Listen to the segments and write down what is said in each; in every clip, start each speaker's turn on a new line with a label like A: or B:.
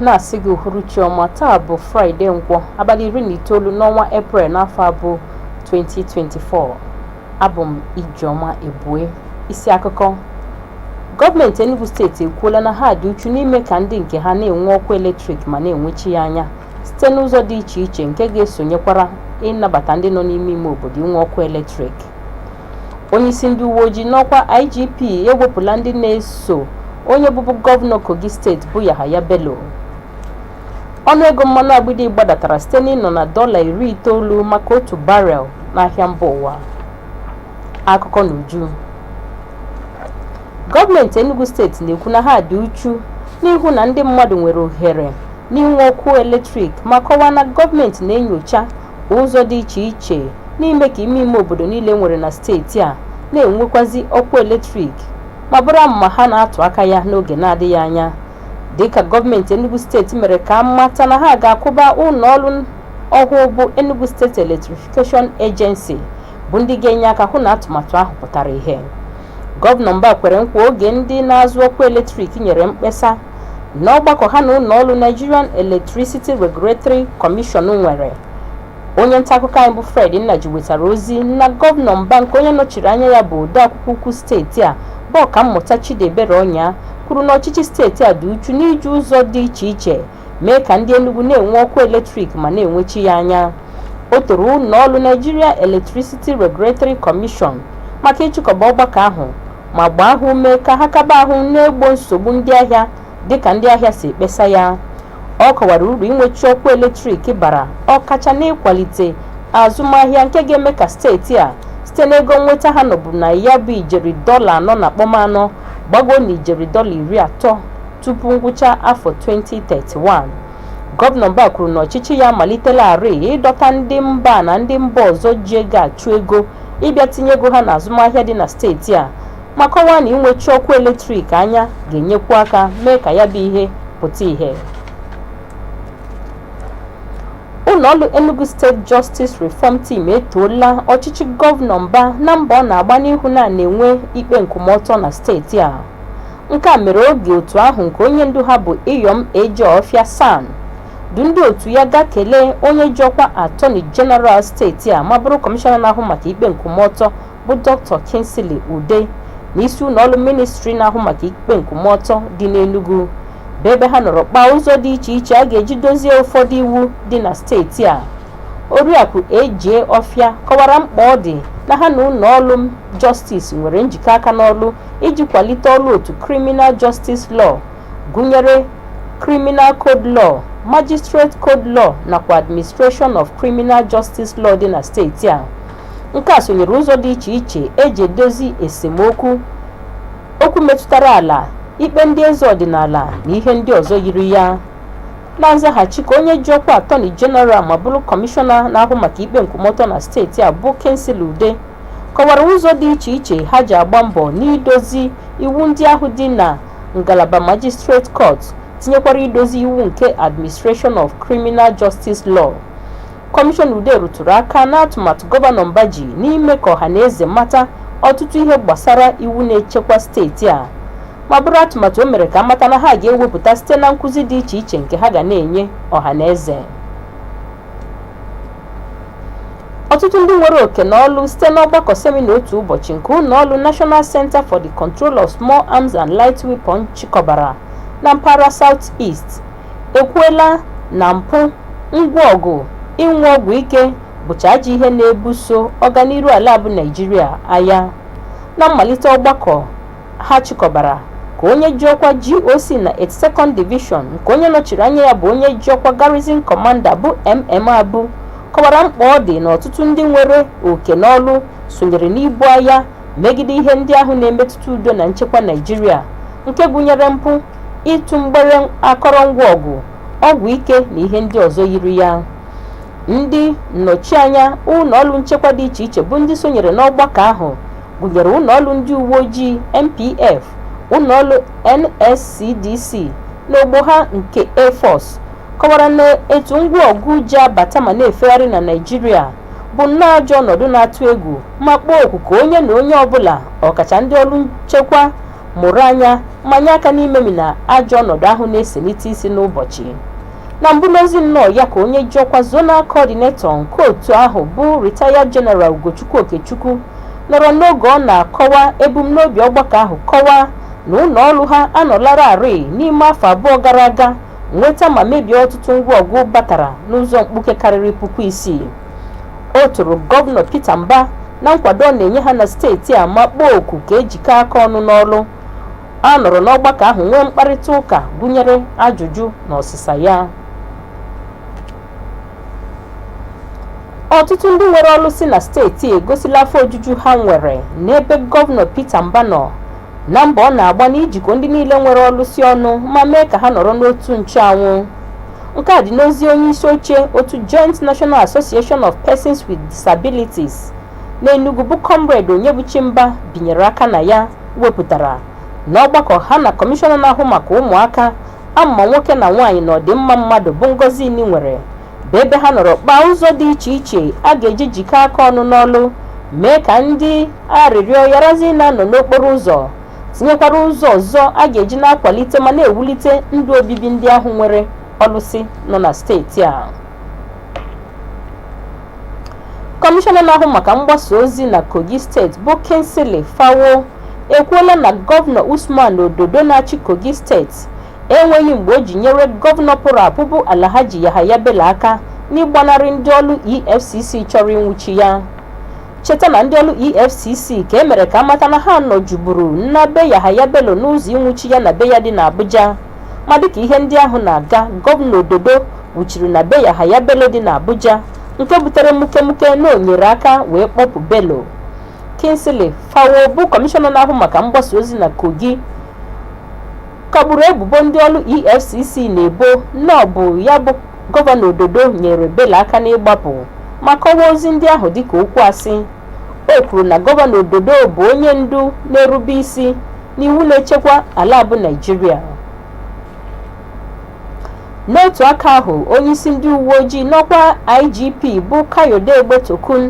A: na-asị gị uhuruchi ọma taa bụ fraịde nkwọ abalị iri na itoolu n'ọnwa eprel n'afọ abụ 2024 abụ m ijeọma ebue isi akụkọ gọọmenti enugu steeti ekwuola na ha dị uchu n'ime ka ndị nke ha na-enwe ọkụ eletrik ma na-enwechi ya anya site n'ụzọ dị iche iche nke ga-esonyekwara ịnabata ndị nọ n'ime ime obodo inwe ọkụ eletrik Onyeisi ndị uwe ojii n'ọkwa IGP ewepụla ndị na-eso onye bụbu gọvanọ Kogi steeti bụ Yahaya Bello. Ọnụego mmanụ agbịdị gbadatara site n'ịnọ na dọla iri itoolu maka otu barel n'ahịa mba ụwa. Akụkọ n'uju. Gọọmenti Enugu steeti na-ekwu na ha dị uchu n'ịhụ na ndị mmadụ nwere ohere n'inwe ọkụ eletrik ma kọwaa na gọọmenti na-enyocha Ụzọ dị iche iche n'ime ka ime ime obodo niile e nwere na steeti a na-enwekwazi ọkụ eletrik ma bụrụ amụma ha na-atụ aka ya n'oge na-adịghị anya dịka gọọmenti Enugu steeti mere ka a mata na ha ga-akwụba ụlọ ọrụ ọhụụ bụ Enugu State Electrification Agency bụ ndị ga-enye aka hụ na atụmatụ ahụ pụtara ihe. Gọvanọ Mbah kwere nkwa oge ndị na-azụ ọkụ eletrik nyere mkpesa n'ọgbakọ ha na ụlọọrụ Nigerian Electricity Regulatory Commission nwere. Onye ntaakụkọ anyị bụ Fred Nnaji wetara ozi na Gọvanọ Mbah nke onye nọchiri anya ya bụ odeakwụkwọ ukwu steeti a bụ Ọkammụta Chidiebere Onyia kwuru na ọchịchị steeti a dị uchu n'iji ụzọ dị iche iche mee ka ndị Enugu na-enwe ọkụ eletrik ma na-enwechi ya anya o toro ụlọọrụ Nigeria Electricity Regulatory Commission maka ịchịkọba ọgbakọ ahụ ma gbaa ha ume ka ha kaba ahụ na-egbo nsogbu ndị ahịa dịka ndị ahịa si ekpesa ya ọ kọwara uru inwechi ọkụ eletrik bara ọkacha n'ịkwalite azụmahịa nke ga-eme ka steeti a site n'ego nnweta ha nọbụ na ya bụ ijeri dọla anọ na kpọm anọ gbago na ijeri dọla iri atọ tupu ngwụcha afọ 2031 gọvanọ mbah kwuru na ọchịchị ya amalitelarị ịdọta ndị mba a na ndị mba ọzọ ji ego achụ ego ịbịa tinye ego ha n'azụmahịa dị na steeti a ma kọwaa na inwechi ọkụ eletrik anya ga-enyekwu aka mee ka ya bụ ihe pụta ìhè ụlọọrụ Enugu State Justice Reform Team etoola ọchịchị gọvanọ mbah na mbọ ọ na-agba n'ịhụ na a na-enwe ikpe nkwụmọtọ na steeti a Nke a mere oge otu ahụ nke onye ndu ha bụ Iyom A.J. Offiah SAN du ndị otu ya gaa kelee onye ji ọkwa Attorney General steeti a ma bụrụ kọmishọna na-ahụ maka ikpe nkwụmọtọ bụ Dr. Kingsley Udeh n'isi ụlọ ọrụ ministri na-ahụ maka ikpe nkwụmọtọ dị n'Enugu bụ ebe ha nọrọ kpaa ụzọ dị iche iche a ga-eji dozie ụfọdụ iwu dị na steeti a oriakụ A.J. Offiah kọwara mkpa ọ dị na ha na ụlọ ọrụ Justice nwere njikọ aka n'ọrụ iji kwalite ọrụ otu Criminal Justice Law gụnyere Criminal Code Law, Magistrate Code Law nakwa Administration of Criminal Justice Law dị na steeti a. Nke a sonyere ụzọ dị iche iche eji edozi esemokwu, okwu metụtara ala, ikpe ndị eze ọdịnala na ihe ndị ọzọ yiri ya. Na nzaghachi ka onye ji ọkwa Attorney General ma bụrụ Kọmishọna na-ahụ maka ikpe nkwụmọtọ na steeti a bụ Kingsley Ude kọwara ụzọ dị iche iche ha ji agba mbọ n'idozi iwu ndị ahụ dị na ngalaba Magistrate Court tinyekwara idozi iwu nke Administration of Criminal Justice Law. Kọmishọna Ude rụtụrụ aka n'atụmatụ gọvanọ Mba ji n'ime ka ọha na eze mata ọtụtụ ihe gbasara iwu na-echekwa steeti a ma bụrụ atụmatụ o mere ka amata na ha ga-ewepụta site na nkụzi dị iche iche nke ha ga na-enye ọha na eze ọtụtụ ndị nwere oke n'ọlụ site n'ọgbakọ semina otu ụbọchị nke ụlọ ọrụ National Center for the Control of Small Arms and Light Weapon chịkọbara na mpaghara South East ekwuela na mpụ ngwa ọgụ ịṅụ ọgwụ ike bụcha ajọ ihe na-ebuso ọganiru ala a bụ Naịjirịa agha na mmalite ọgbakọ ha chịkọbara ka onye ji ọkwa GOC na 82nd Division nke onye nọchiri anya ya bụ onye ji ọkwa Garrison Commander bụ MM Abu kọwara mkpa ọ dị na ọtụtụ ndị nwere oke n'ọlụ sonyere n'ibu agha megide ihe ndị ahụ na-emetụta udo na nchekwa Naịjirịa nke gụnyere mpụ ịtụ mgbere akọrọngwa ọgụ ọgwụ ike na ihe ndị ọzọ yiri ya ndị nnọchianya ụlọ ọrụ nchekwa dị iche iche bụ ndị sonyere n'ọgbakọ ahụ gụnyere ụlọọrụ ndị uweojii NPF, ụlọọrụ NSCDC na ogbo ha nke Air Force, kọwara na etu ngwa ọgụ ji abata ma na-efegharị na Naịjirịa bụ nnọọ ajọ ọnọdụ na-atụ egwu ma kpọọ oku ka onye na onye ọbụla ọkacha ndị ọrụ nchekwa mụrụ anya ma nye aka n'imemina ajọ ọnọdụ ahụ na-eselite isi n'ụbọchị. Na mbụ n'ozi nnọọ ya ka onye ji ọkwa zonal coordinator nke otu ahụ bụ Retired General Ugochukwu Okechukwu nọrọ n'oge ọ na-akọwa ebumnobi ọgbakọ ahụ kọwaa na ụlọ ọrụ ha anọlararị n'ime afọ abụọ gara aga nweta ma mebie ọtụtụ ngwa ọgụ batara n'ụzọ mkpuke karịrị puku isii. O toro Gọvanọ Peter Mbah na nkwado ọ na-enye ha na steeti a ma kpọọ oku ka ejikọọ aka ọnụ n'ọrụ. A nọrọ n'ọgbakọ ahụ nwee mkparịta ụka gụnyere ajụjụ na ọsịsa ya. Ọtụtụ ndị nwere ọrụsị na steeti a egosila afọ ojuju ha nwere n'ebe gọvanọ Peter Mba nọ na mbọ ọ na-agba n'ijikọ ndị niile nwere ọrụsị ọnụ ma mee ka ha nọrọ n'otu ncheanwụ. Nke a dị n'ozi onye isi oche otu Joint National Association of Persons with Disabilities n'Enugu bụ Comrade Onyebuchi Mba binyere aka na ya. wepụtara n'ọgbakọ ha na kọmishọna na-ahụ maka ụmụaka ama nwoke na nwaanyị na ọdịmma mmadụ bụ Ngozi Enih nwere bụ ebe ha nọrọ kpaa ụzọ dị iche iche a ga-eji jikọ aka ọnụ n'ọlụ mee ka ndị arịrịọ yarazi na-anọ n'okporo ụzọ tinyekwara ụzọ ọzọ a ga-eji na-akwalite ma na-ewulite ndụ obibi ndị ahụ nwere ọlụsị nọ na steeti a kọmishọna na-ahụ maka mgbasa ozi na kogi steeti bụ kingsley fanwo ekwuola na gọvanọ usman ododo na-achị kogi steeti enweghị mgbe o ji nyere gọvanọ pụrụ apụ bụ alhaji yahaya bello aka n'ịgbanarị ndị ọrụ efcc chọrọ ịnwụchi ya cheta na ndị ọrụ efcc ka e mere ka a mata na ha nọjuburu na be yahaya bello n'ụzọ ịnwụchi ya na be ya dị n'abuja Ma dịka ihe ndị ahụ na-aga, Gọvanọ Ododo wuchiri na be Yahaya Bello dị n'Abuja nke butere mukemuke na o nyere aka wee kpọpụ Bello. Kingsley Fanwo bụ kọmishọna na-ahụ maka mgbasa ozi na Kogi kagburu ebubo ndị ọrụ EFCC na-ebo na ọ bụ ya bụ Gọvanọ Ododo nyere Bello aka n'ịgbapụ ma kọwaa ozi ndị ahụ dịka okwu asị. O kwuru na gọvanọ Ododo bụ onye ndu na-erube isi n'iwu na-echekwa ala bụ Naịjirịa. N'otu aka ahụ, onyeisi ndị uwe ojii n'ọkwa IGP bụ Kayode Egbetokun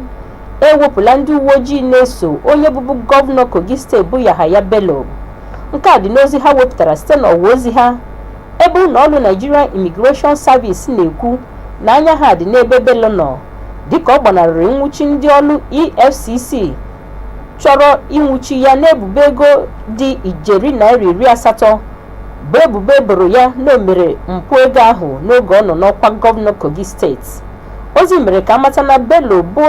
A: ewepụla ndị uwe ojii na-eso onye bụbu gọvanọ Kogi steeti bụ Yahaya Bello. Nke a dị n'ozi ha wepụtara site n'ọwa ozi ha ebe ụlọọrụ Nigerian Immigration Service na-ekwu na anya ha dị n'ebe Bello nọ dịka ọ gbanarịrị nnwụchi ndị ọrụ EFCC chọrọ ịnwụchi ya n'ebubo ego dị ijeri naira iri asatọ bụ ebubo e boro ya na o mere mpụ ego ahụ n'oge ọ nọ n'ọkwa gọvanọ Kogi steeti ozi mere ka a mata na Bello bụ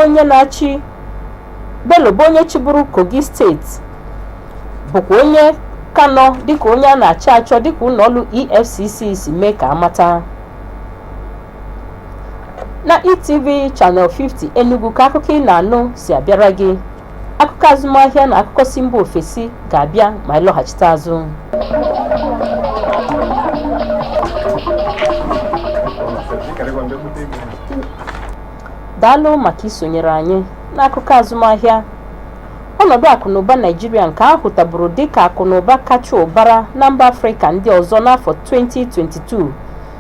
A: onye chịburu Kogi steeti bụkwa onye ka nọ dịka onye a na-achọ achọ dịka ụlọọrụ EFCC si mee ka a mata na etv channel 50 enugu ka akụkọ ị na-anụ si abịara gị akụkọ azụmahịa na akụkọ si mba ofesi ga-abịa ma anyị lọghachite azụ daalụ maka isonyere anyị n'akụkọ azụmahịa ọnọdụ akụnụba naịjirịa nke a hụtaburu dịka akụnụba kacha ụbara na mba afrịka ndị ọzọ n'afọ 2022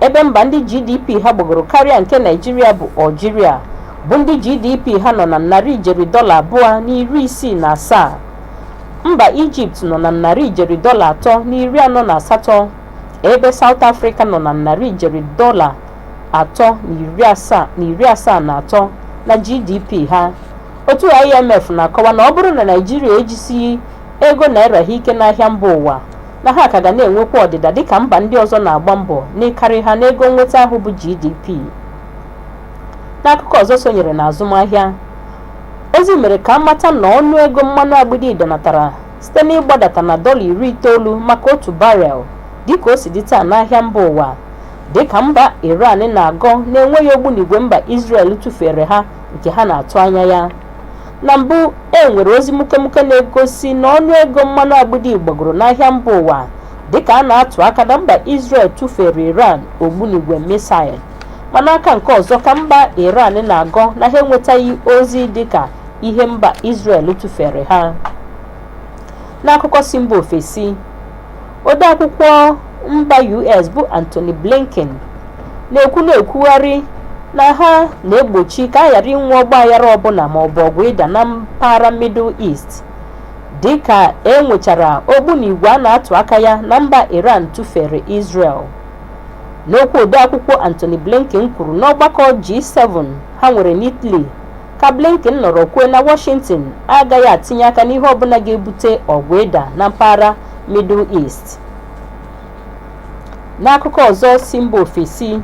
A: ebe mba ndị GDP ha gbagoro karịa nke Naịjirịa bụ Algeria bụ ndị GDP ha nọ na narị ijeri dọla abụọ na iri isii na asaa mba Ijipt nọ na narị ijeri dọla atọ na iri anọ na asatọ ebe South Africa nọ na narị ijeri dọla atọ na iri asaa na atọ na GDP ha otu IMF na-akọwa na ọ bụrụ na Naịjirịa ejisighị ego naira ha ike n'ahịa mba ụwa na ha ka ga na-enwekwa ọdịda dịka mba ndị ọzọ na-agba mbọ n'ịkarị ha n'ego nnweta ahụ bụ GDP. N'akụkọ ọzọ sonyere na azụmahịa, ozi mere ka a mata na ọnụ ego mmanụ agbidi danatara site n'ịgbadata na dọla iri itoolu maka otu barel dịka o si dị taa n'ahịa mba ụwa dịka mba Iran na-agọ na e nweghị ogbunigwe mba Israel tụfere ha nke ha na-atụ anya ya. Na mbụ, e nwere ozi mukemuke na-egosi na ọnụ ego mmanụ agbidi gbagoro n'ahịa mba ụwa dịka a na-atụ aka na mba Israel tụfere Iran ogbunigwe misail ma n'aka nke ọzọ ka mba Iran na-agọ na ha enwetaghị ozi dịka ihe mba Israel tụfere ha n'akụkọ si mba ofesi Odeakwụkwọ mba US bụ Antony Blinken na-ekwu na-ekwugharị na ha na-egbochi ka a ghara inwe ọgbaghara ọbụla maọbụ ọgụ ịda na mpaghara Middle East dịka e nwechara ogbunigwe a na-atụ aka ya na mba Iran tụfere Israel. N'okwu odeakwụkwọ Antony Blinken kwuru n'ọgbakọ G7 ha nwere n'Italy ka Blinken nọrọ kwuo na Washington agaghị atinye aka n'ihe ọbụla ga-ebute ọgụ ịda na mpaghara Middle East. N'akụkọ ọzọ si mba ofesi,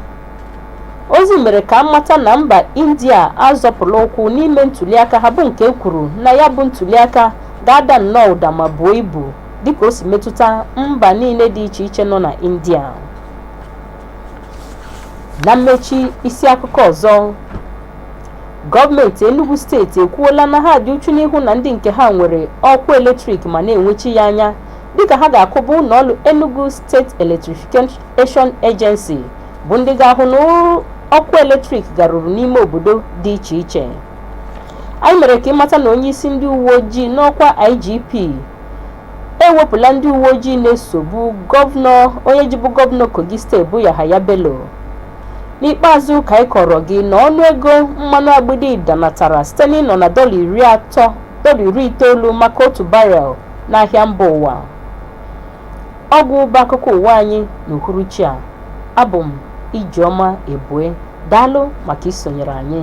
A: ozi mere ka a mata na mba India azọpụla ụkwụ n'ime ntuliaka ha bụ nke e kwuru na ya bụ ntuliaka ga-ada nnọọ ụda ma buo ibu dịka o si metụta mba niile dị iche iche nọ na India. Na mmechi isi akụkọ ọzọ Gọọmenti Enugu steeti ekwuola na ha dị uchu n'ịhụ na ndị nke ha nwere ọkụ eletrik ma na-enwechi ya anya dịka ha ga-akwụba ụlọọrụ Enugu State Electrification Agency bụ ndị ga-ahụ na ọkụ eletrik garuru n'ime obodo dị iche iche. Anyị mere ka ị mata na onyeisi ndị uwe ojii n'ọkwa IGP ewepụla ndị uwe ojii na-esobu gọvanọ onye jibu gọvanọ Kogi steeti bụ Yahaya Bello. N'ikpeazụ ka anyị kọọrọ gị na ọnụego mmanụ agbịdị danatara site n'ịnọ na dọla iri itoolu maka otu barel n'ahịa mba ụwa. Ọ gwụ ụba akụkọ ụwa anyị n'uhuruchi a. Abụ m Ijeọma Ebue. Daalụ maka isonyere anyị.